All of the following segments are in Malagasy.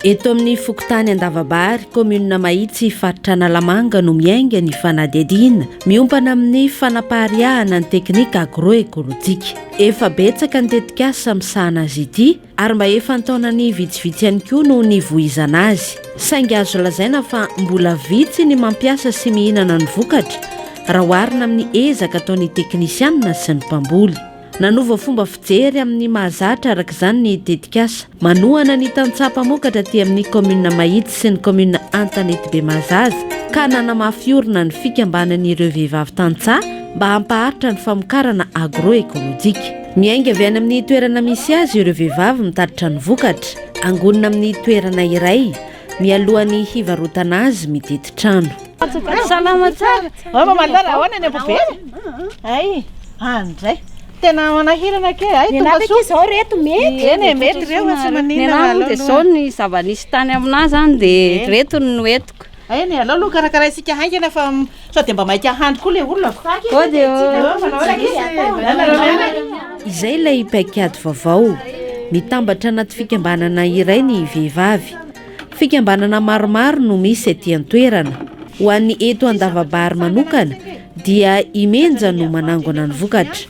Eto amin'ny fokontany Andavabary, kaominina Mahitsy, faritra Analamanga no miainga ny fanadihadiana miompana amin'ny fanapariahana ny teknika agroekolojika. Efa betsaka ny tetikasa misahana azy ity ary mba efa an-taonany vitsivitsy ihany koa no nivoizana azy, saingy azo lazaina fa mbola vitsy ny mampiasa sy mihinana ny vokatra raha oharina amin'ny ezaka ataon'ny teknisianina sy ny mpamboly. Nanova fomba fijery amin'ny mahazatra araka izany ny tetikasa manohana ny tantsaha mpamokatra aty amin'ny kaominina Mahitsy sy ny kaominina Antanety Bemahazaza ka nanamafy orina ny fikambanan'ireo vehivavy tantsaha mba hampaharitra ny famokarana agro-ekolojika. Miainga avy any amin'ny toerana misy azy ireo vehivavy mitatitra ny vokatra, angonina amin'ny toerana iray, mialohan'ny hivarotana azy mididy trano. Salama tsara. Ao Mamalala, ahoana ny ampobera? Hay, any indray. Tena manahirana kely. Hay, tonga soa. Ny anarako izao ry reto mety. Eny e, mety ireo fa tsy maninona. Ny anarako dia izao ny zava-nisy tany aminà izany dia ireto no entiko. Ainy e, alao aloha karakaraintsika haingana fa sao dia mba maika hany koa ilay olona ko. Kody ô! Izay ilay paikady vaovao. Mitambatra anaty fikambanana iray ny vehivavy. Fikambanana maromaro no misy aty an-toerana. Ho an'ny eto Andavabary manokana dia i Menja no manangona ny vokatra.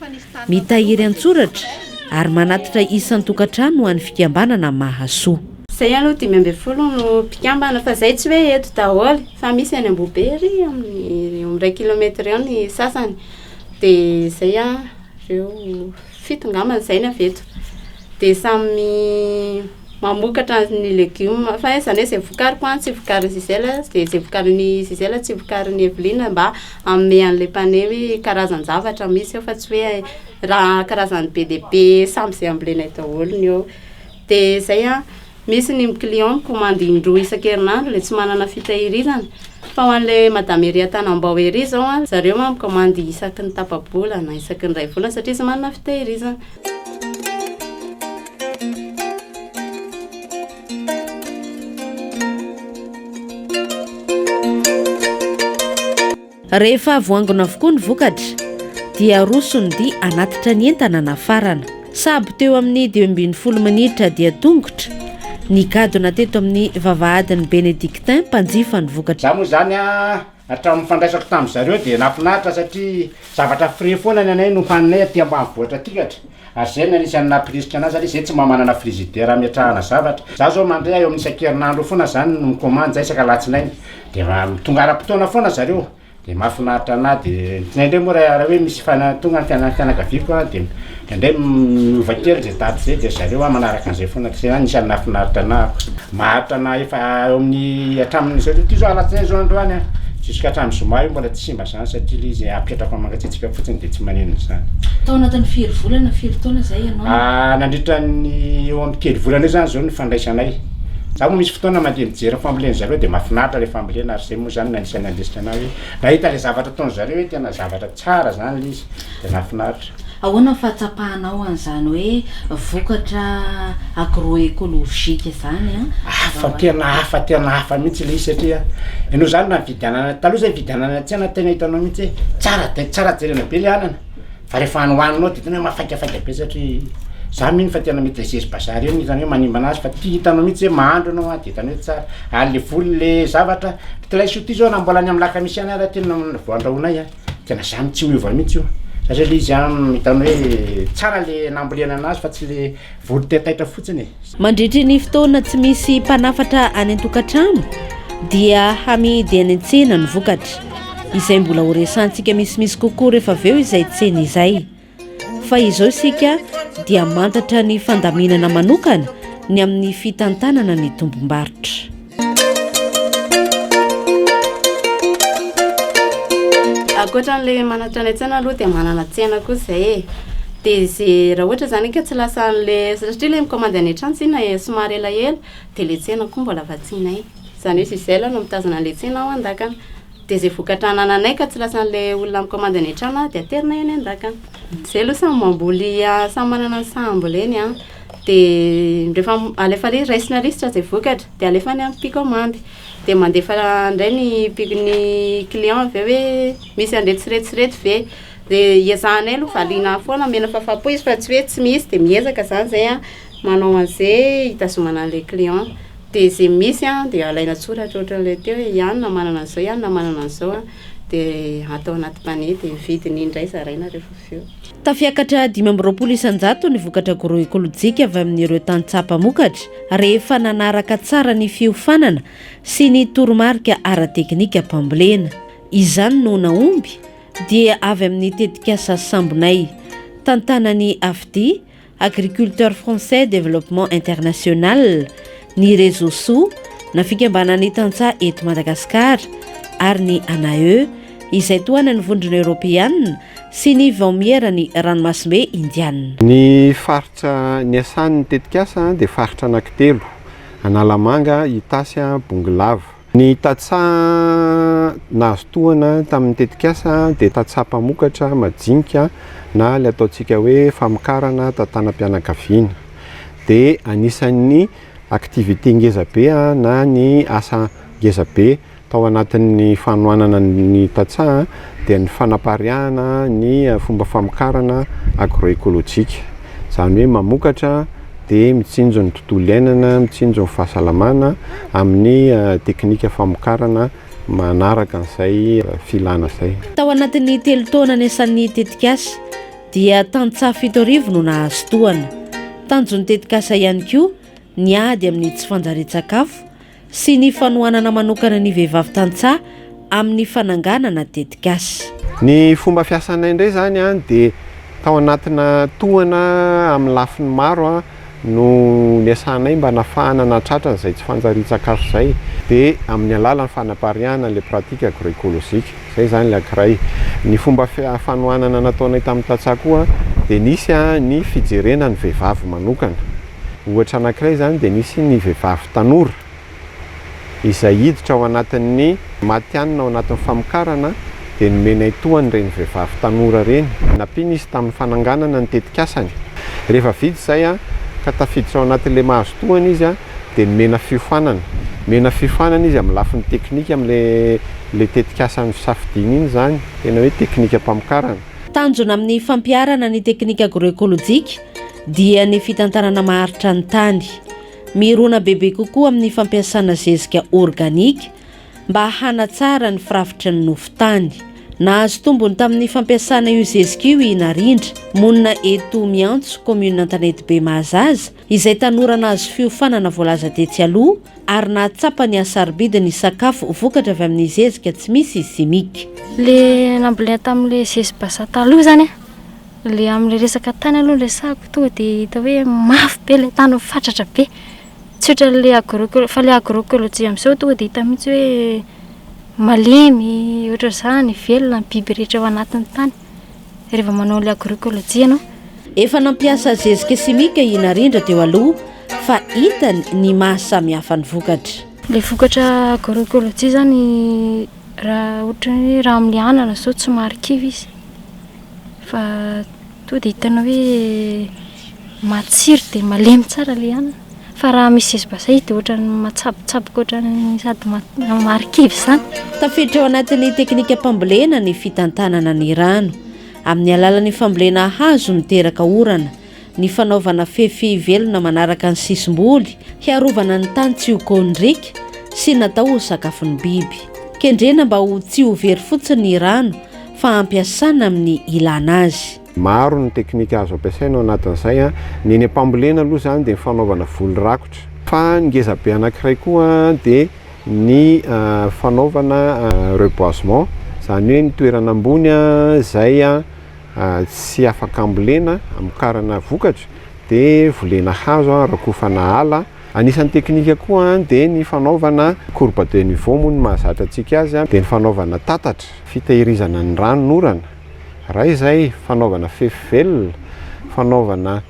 Mitahiry an-tsoratra ary manatitra isan-tokantrano ho an'ny fikambanana Mahasoa. Zay aloha dimy ambin'ny folo no mpikambana fa zay tsy hoe eto daholo fa misy any Ambohibe ery amin'ny eo iray kilometatra eo ny sasany dia zay an ireo fito angamba izay ny avy eto dia samy mamokatra ny legioma fa izany hoe izay vokariko an tsy vokarin'i Gisèle dia izay vokarin'i Gisèle tsy vokarin'i Evelyne mba hanome an'ilay mpane hoe karazan-javatra misy eo fa tsy hoe raha karazan'ny be dia be samy izay ambolenay daholo ny eo Dia izay an, misy ny client mikomandy indroa isan-kerinandro dia tsy manana fitahirizana, fa ho an'ilay madame ery Antanambao ery izao an, zareo an mikomandy isaky ny tapa-bola na isaky ny iray volana satria izy manana fitahirizana. Rehefa voangona avokoa ny vokatra dia aroso ny dia hanatitra ny entana nafarana. Sabo teo amin'ny dimy ambin'ny folo minitra dia tongotra, nigadona teto amin'ny vavahadin'ny Benedictins mpanjifa ny vokatra. Za moa zany a, hatramin'ny fandraisako tamin'ny zareo dia nafinaritra satria zavatra frais foana ny anay no haninay aty ambanivohitra aty katra. Ary zay no anisan'ny nampirisika anazy ary zay tsy mba manana frizidera ametrahana zavatra. Za zao mandre eo amin'ny isan-kerinandro eo foana zany no mikomandy isaka alatsinainy de tonga ara-potoana foana zareo de mahafinaritra anahy de indraindray moa raha hoe misy tonga ny fianakaviako an de indraindray miova kely zay daty zay de zareo an manaraka an'izay foana de zay zany anisan'ny nahafinaritra anahy koa. Maharitra anahy efa eo amin'ny hatramin'izao tontolo izao alatsinainy zao androany an, jusk'hatramin'ny zoma io mbola tsy simba. Izany satria ilay izy apetrako amin'ny mangatsiatsiaka fotsiny dia tsy maneno izany. Tao anatin'ny firy volana, firy taona izay ianao? Ah, nandritra ny eo amin'ny telo volana eo izany izao ny fandraisanay. Za moa misy fotoana mandeha mijery ny famboleny zareo dia mahafinaritra ilay fambolena ary izay moa izany no anisan'ny nandrisika anah hoe nahita ilay zavatra ataon'ny zareo hoe tena zavatra tsara izany ilay izy dia nahafinaritra. Ahoana ny fahatsapahanao an'izany hoe vokatra agroekolojika izany? Hafa tena hafa tena hafa mihitsy ilay izy satria ianao izany raha nividianana, taloha izay nividianana any an-tsena tena hitanao mihitsy hoe tsara dia tsara jerena be ilay anana fa rehefa any ho haninao dia tena hoe mafaikafika be satria za mino fa tena maitresezy bazar io no hitany hoe manimba an'azy fa ity hitanao mihitsy hoe mahandro ianao an dia hitany hoe tsara ary ilay voly ilay zavatra, ity laisoa ity izao raha mbola any amin'ny lakamisy any ary ity no voandrahoinay an. Tena zany tsy miova mihitsy io satria le izy an hitany hoe tsara le nambolena anazy fa tsy le voly tetaitra fotsiny e. Mandritry ny fotoana tsy misy mpanafatra any an-tokantrano dia hamidy any an-tsena ny vokatra. Izay mbola ho resantsika misimisy kokoa rehefa avy eo izay tsena izay. fa izao isika dia mantatra ny fandaminana manokana ny amin'ny fitantanana ny tompom-barotra. Ankoatra an'ilay manatra ny an-tsaina aloha dia manana tsena koa izay e. Dia izay raha ohatra izany ka tsy lasa an'ilay satria ilay mikaomandy any an-trano tsinona e, somary elaela dia ilay tsena koa mbola vatsianay. Izany hoe Gisèle no mitazona an'ilay tsena ao an-dakana. Dia izay vokatra anananay ka tsy lasan'ilay olona mikaomandy any an-trano dia aterina eny an-dakana. Izay aloha samy mamboly, samy manana ny saha amboleny an. Dia rehefa alefa lisitra, raisina lisitra izay vokatra dia alefa any amin'ny mpikaomandy. Dia mandefa indray ny mpi- ny client avy eo hoe misy an'ireto sy ireto sy ireto ve. Dia ezahanay aloha valiana foana, omena fahafaham-po izy fa tsy hoe tsy misy dia miezaka izany izay an. Manao an'ze hitazomana an'le client. Dia ze misy an, dia alaina tsoratra ohatran'le teo hoe ianona manana an'zao, ianona manana an'zao an, dia atao anaty panier, dia vidiny indray zaraina rehefa avy eo. Tafiakatra dimy amby roapolo isan-jato ny vokatra agroekolojika avy amin'ireo tantsaha mpamokatra rehefa nanaraka tsara ny fiofanana sy ny toromarika ara-teknika mpambolena. Izany no nahomby dia avy amin'ny tetikasa Sambonay, tantanan'i Afdy, Agriculteurs Français Développement International, ny Rezoso, na fikambanan'ny tantsaha eto Madagasikara, ary ny ANAE, izay tohanan'ny Vondrona Eoropeana sy ny Vaomieran'ny Ranomasimbe Indiana. Ny faritra niasan'ny tetikasa dia faritra anankitelo, Analamanga, Itasy, Bongolava. Ny tantsaha nahazo tohana tamin'ny tetikasa dia tantsaha mpamokatra majinika na ilay ataontsika hoe famokarana tantanam-pianakaviana. Dia anisan'ny activité ngeza be na ny asa ngeza be tao anatin'ny fanohanana ny tantsaha. dia ny fanapariahana ny fomba famokarana agroekolojika. Izany hoe mamokatra dia mitsinjo ny tontolo iainana, mitsinjo ny fahasalamana amin'ny teknika famokarana manaraka an'izay filana izay. Tao anatin'ny telo taona niasan'ny tetikasa dia tantsaha fito arivo no nahazo tohana. Tanjon'ny tetikasa ihany koa ny ady amin'ny tsy fanjarian-tsakafo sy ny fanohanana manokana ny vehivavy tantsaha amin'ny fananganana tetikasa. Ny fomba fiasanay indray izany dia tao anatina tohana amin'ny lafiny maro no niasanay mba nafahana nahatratra an'izay tsy fanjarian-tsakafo izay dia amin'ny alalan'ny fanapariahana ilay pratique agro-ecologique. Izay izany ilay ankiray. Ny fomba fanohanana nataonay tamin'ny tantsaha koa dia nisy ny fijerena ny vehivavy manokana. Ohatra anankiray izany dia nisy ny vehivavy tanora izay hiditra ao anatin'ny matihanina ao anatin'ny famokarana dia nomenay tohana ireny vehivavy tanora ireny, nampiana izy tamin'ny fananganana ny tetikasany. Rehefa vita izay ka tafiditra ao anatin'ilay mahazo tohana izy dia nomena fiofanana. Nomena fiofanana izy amin'ny lafiny teknika amin'ilay tetikasa nosafidiany iny izany, tena hoe teknikam-pamokarana. Tanjona amin'ny fampiharana ny teknika agroekolojika dia ny fitantanana maharitra ny tany. Mirona bebe kokoa amin'ny fampiasana zezika organika mba hanatsara ny firafitry ny nofon-tany. Nahazo tombony tamin'ny fampiasana io zezika io i Narindra, monina eto Miantso, kaominina Antanetibe Mahazaza, izay tanora nahazo fiofanana voalaza tetsy aloha ary nahatsapa ny hasarobidy ny sakafo vokatra avy amin'ny zezika tsy misy simika. Le nambolena tamin'ilay zezibazaha taloha izany an. Le amle resaka tany aloha no resahako tonga de hita hoe mafy be le tany fatratra be tsy otranle agro fa le agro ecologie amzao tonga de hita mitsy hoe malemy otrazany velona ny biby rehetra ao anatiny tany reva manao le agro ecologie anao Efa nampiasa zezika simika i Narendra teo aloha fa hitany ny maha samy hafa ny vokatra. Le vokatra agro ecologie zany raha ohatran'ny hoe raha amle anana zao tsy marikivy izy. Fa toa dia hitanao hoe matsiro dia malemy tsara ilay hanina. Fa raha misy zezibasay dia ohatran'ny matsabotsaboka ohatran'ny sady marikivy izany. Tafiditra ao anatin'ny teknikam-pambolena ny fitantanana ny rano. Amin'ny alalan'ny fambolena hazo miteraka orana, Ny fanaovana fefy velona manaraka ny sisim-boly hiarovana ny tany tsy ho kôndriaka sy natao ho sakafon'ny biby. Kendrena mba ho tsy ho very fotsiny ny rano fa ampiasana amin'ny ilàna azy. Maro ny teknika azo ampiasaina ao anatin'izay. Ny eny am-pambolena aloha izany dia ny fanaovana voly rakotra. Fa ny ngezabe anankiray koa dia ny fanaovana reboisement, izany hoe ny toerana ambony izay. tsy afaka ambolena, amokarana vokatra dia volena hazo, rakofana ala. Anisan'ny teknika koa dia ny fanaovana courbe de niveau moa ny mahazatra antsika azy dia ny fanaovana tatatra, fitehirizana ny ranon'orana, raha izay fanaovana fefy velona, fanaovana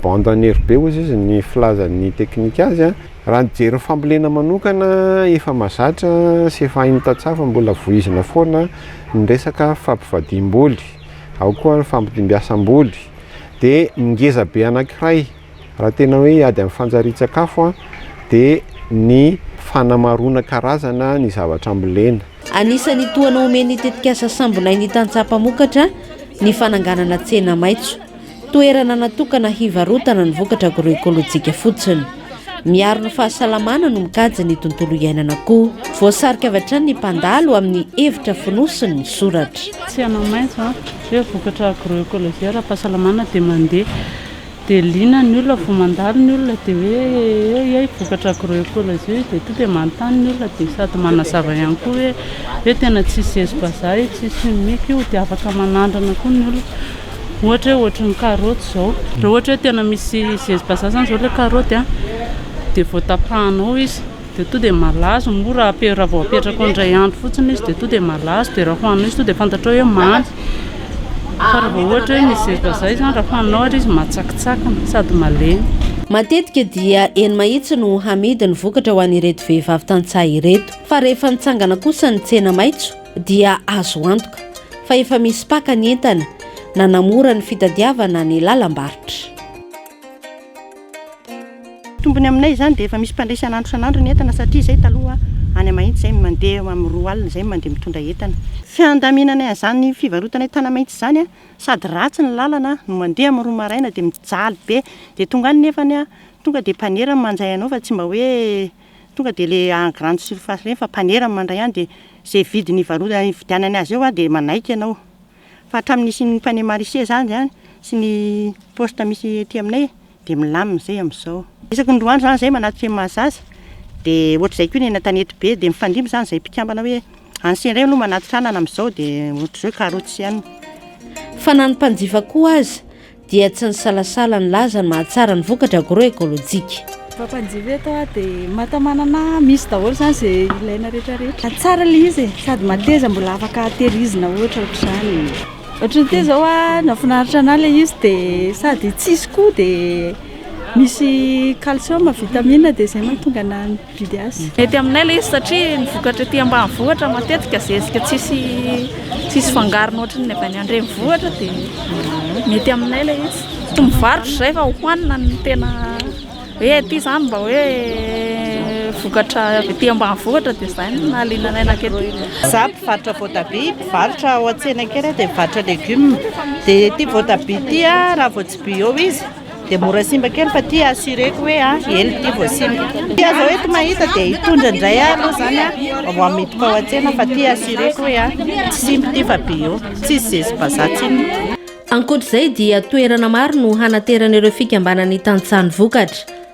bande enherbée ozy izy ny filazan'ny teknika azy. Raha ny jery ny fambolena manokana efa mahazatra sy efa hain'ny tantsaha fa mbola vohizina foana ny resaka fampivadiam-boly, ao koa ny fampidimbiasam-boly, dia ny ngeza be anankiray raha tena hoe hiady amin'ny fanjarian-tsakafo dia ny fanamaroana karazana ny zavatra ambolena. Anisan'ny tohana omen'ny tetikasa Sambonay ny tantsaha mpamokatra ny fananganana tsena maitso. Toerana natokana hivarotana ny vokatra agroekolojika fotsiny. Miaro ny fahasalamana no mikajy ny tontolo iainana koa. Voasarika avy hatrany ny mpandalo amin'ny hevitra fonosiny ny soratra. Tsy hanao maitso an! Hoe vokatra agroekolojia ara-pahasalamana dia mandeha. Dia liana ny olona vao mandalo ny olona dia hoe eo iay vokatra agroekolojia io dia tonga dia manontany ny olona dia sady manazava ihany koa hoe hoe tena tsisy zezim-bazaha io, tsisy chimique io dia afaka manandrana koa ny olona. Ohatra hoe ohatry ny karaoty izao, raha ohatra hoe tena misy zezi bazaha izany izao ilay karaoty a, dia vao tapahanao izy dia tonga dia malazo, moa raha ape- raha vao apetraka eo indray andro fotsiny izy dia tonga dia malazo, dia raha hohaninao izy tonga dia fantatrao hoe mamy, fa raha vao ohatra hoe misy zezi bazaha izany raha hohaninao ary izy matsakitsakina sady malemy. Matetika dia eny mahitsy no hamidy ny vokatra ho an'ireto vehivavy tantsaha ireto. Fa rehefa nitsangana kosa ny tsena maitso dia azo antoka fa efa misy paka ny entana nanamora ny fitadiavana ny lalam-barotra. Tombony aminay izany dia efa misy mpandray isan'andro isan'andro ny entana satria izay taloha any Mahitsy izay mandeha eo amin'ny roa alina izay no mandeha mitondra entana. Fiandaminanay an'izany fivarotanay tany Mahitsy izany sady ratsy ny lalana no mandeha amin'ny roa maraina dia mijaly be dia tonga any nefany tonga dia mpanera no manjay anao fa tsy mba hoe Tonga dia ilay en grande surface ireny fa mpanera no mandray any dia izay vidiny ivarotany ividianany azy eo aho dia manaiky ianao. Fa hatramin'ny nisian'ny panier maraîcher zany zany sy ny poste misy ety aminay dia milamina izay amin'izao. Isaky ny roa andro zany zay manatitra eny Mahazaza dia ohatr'izay koa ny eny Antanety be dia mifandimby zany izay mpikambana hoe any sy indray aloha manatitra anana amin'izao dia ohatr'izao karoty sy anana. Fa na ny mpanjifa koa aza dia tsy nisalasala nilaza ny mahatsara ny vokatra agroekolojika. Mpapanjifa eto aho dia matamanana misy daholo izany izay ilaina rehetra rehetra. Tsara ilay izy e, sady mateza mbola afaka tehirizina ohatra ohatr'izany. Ohatran'ny teo izao aho nahafinaritra anà ilay izy dia sady tsy hisy koa dia misy calcium, vitamine dia izay no mahatonga anà. Mety aminay ilay izy satria ny vokatra ety ambanivohitra matetika zezika tsisy tsisy fangarony ohatry ny avy any andrenivohitra dia mety aminay ilay izy. Tsy mivarotra izay fa hohanina ny tena hoe aty izany mba hoe vokatra avy ety ambanivohitra dia izay no nahaliana anay nankety. Izaho mpivarotra voatabia, mpivarotra ao an-tsena kely aho dia mivarotra legioma dia ity voatabia ity raha vao tsy bio izy Dia mora simba kely fa ity assureko hoe ela ity vao simba. Ity aza eto mahita dia hitondra indray ahy aloha izany vao hamiditra ao an-tsena fa ity assureko hoe tsy simba ity fa bio. Tsisy zezi-bazaha tsinona. Ankoatra izay dia toerana maro no hanateran'ireo fikambanan'ny tantsaha ny vokatra.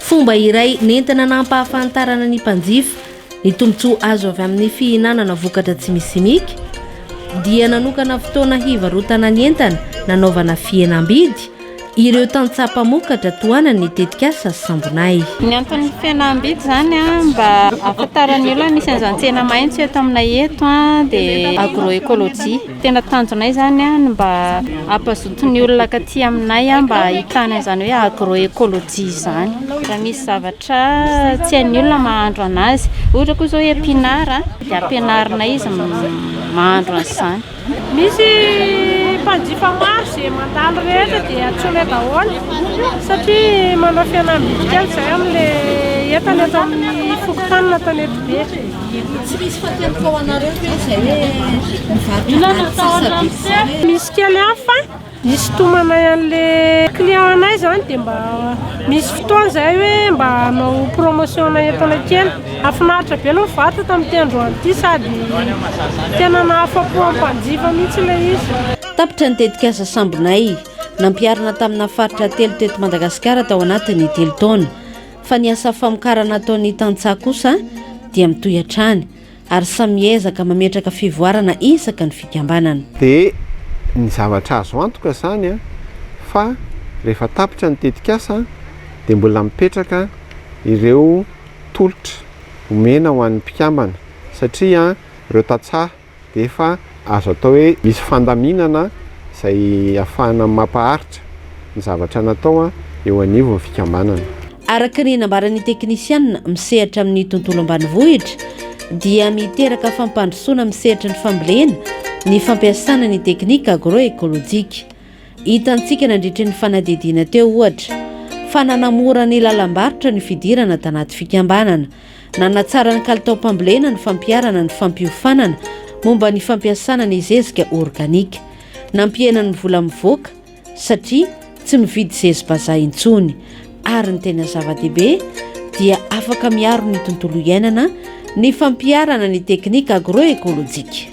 Fomba iray nentina nampahafantarana ny mpanjifa ny tombontsoa azo avy amin'ny fihinanana vokatra tsy misy simika dia nanokana fotoana hivarotana ny entana nanaovana fihenam-bidy ireo tantsaha mpamokatra tohanan'ny tetikasa Sambonay. Ny anton'ny fihenam-bidy izany mba ahafantaran'ny olona ny misy an'izany tsena maitso eto aminay eto dia agro-ecologie. Tena tanjonay izany ny mba hampazoto ny olona akaty aminay mba hahitana izany hoe agroecologie izany. Raha misy zavatra tsy hain'ny olona mahandro anazy, ohatra koa izao epinara dia ampianarinay izy mahandro an'izany. Misy mpanjifa maro izay mandalo rehetra dia antsoinay daholo satria manao fihenam-bidy kely izay amin'ilay entana eto amin'ny fokontany na tanety be. Tsy misy fatiantoka ho anareo ve izay hoe mivarotra ady sisa be izay? Misy kely ihany fa hisintomanay an'le client anay zany dia mba misy fotoana izay hoe mba hanao promotion entana kely. Nahafinaritra be aloha ny varotra tamin'ity androany ity sady tena nahafapo ny mpanjifa mihitsy ilay izy. Tapitra ny tetikasa Sambonay. Nampiharina tamina faritra telo teto Madagasikara tao anatin'ny telo taona. fa ny asa famokarana ataon'ny tantsaha kosa dia mitohy hatrany ary samy miezaka mametraka fivoarana isaky ny fikambanana. Dia ny zavatra azo antoka izany fa rehefa tapitra ny tetikasa dia mbola mipetraka ireo tolotra omena ho an'ny mpikambana satria ireo tantsaha dia efa azo atao hoe misy fandaminana izay ahafahana mampaharitra ny zavatra natao eo anivon'ny fikambanana. Araka ny nambaran'ny teknisianina misehatra amin'ny tontolo ambanivohitra dia miteraka fampandrosoana amin'ny sehatry ny fambolena ny fampiasana ny teknika agro-ekolojika. Hitantsika nandritry ny fanadihadiana teo, ohatra, fa nanamora ny lalam-barotra ny fidirana tanaty fikambanana. Nanatsara ny kalitaom-pambolena ny fampiharana ny fampiofanana momba ny fampiasana ny zezika organika. Nampihena ny vola mivoaka, satria tsy mividy zezi-bazaha intsony. Ary ny tena zava-dehibe, dia afaka miaro ny tontolo iainana ny fampiharana ny teknika agroekolojika.